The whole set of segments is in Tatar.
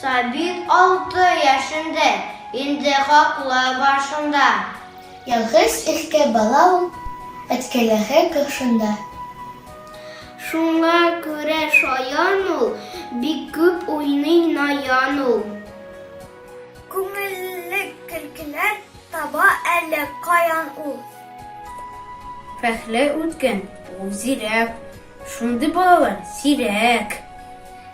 Сабит алты яшендә, инде хаклы башында. Ялгыз иркә бала ул, әткәйләре каршында. Шуңа күрә шаян ул, бик күп уйный наян ул. Күңелле көлкеләр таба әле каян ул. Пәхлә үткән ул зирәк, шундый балалар сирәк.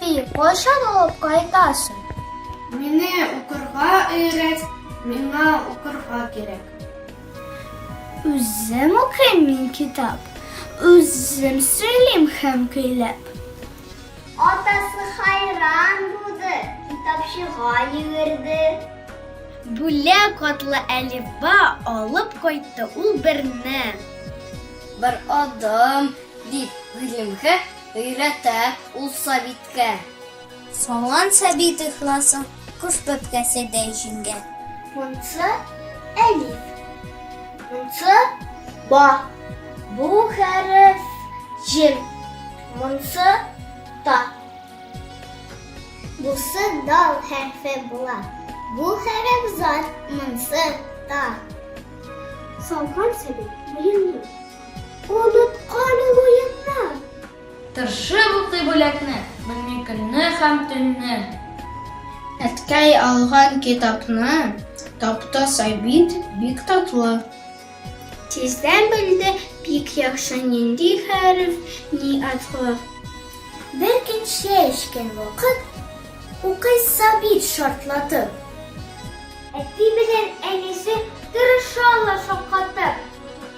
Ти кайчан алып кайтасың? Мине укырга өйрәт, миңа укырга кирәк. Үзем укыйм мин китап, үзем сөйлим һәм көйләп. Атасы хайран булды, китапчыга йөгерде. Бүлә катлы әлифба алып кайтты ул берне. Бер адым дип гыйлемгә Өйрәтә ул Сабиткә. Салган Сабит ихласын. Кош бәбкәседәй җиңгә. Монсы, әлиф. Монсы, ба. Бу хәреф, җим. Монсы, та. Бусы дал хәрефе була. Бу хәреф, зат. Монсы, та. Салган Сабит муенны. Онытканың уеннар. Тыршып укый бүләкне. Белми көнне һәм төнне. Әткәй алган китапны. Таптаса бит, бик татлы. Тиздән белде бик яхшы нинди хәреф, ни атлы. Бер көн чәй эчкән вакыт. Укыйсы бит шартлатып. Әти белән әнисе тырышалар шаккатып.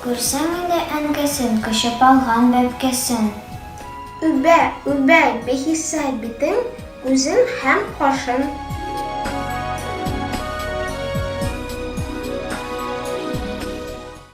Күрсәң инде әнкәсен, Кочып алган бәбкәсен. Үбә, үбә бихисап битен, Күзен һәм кашын.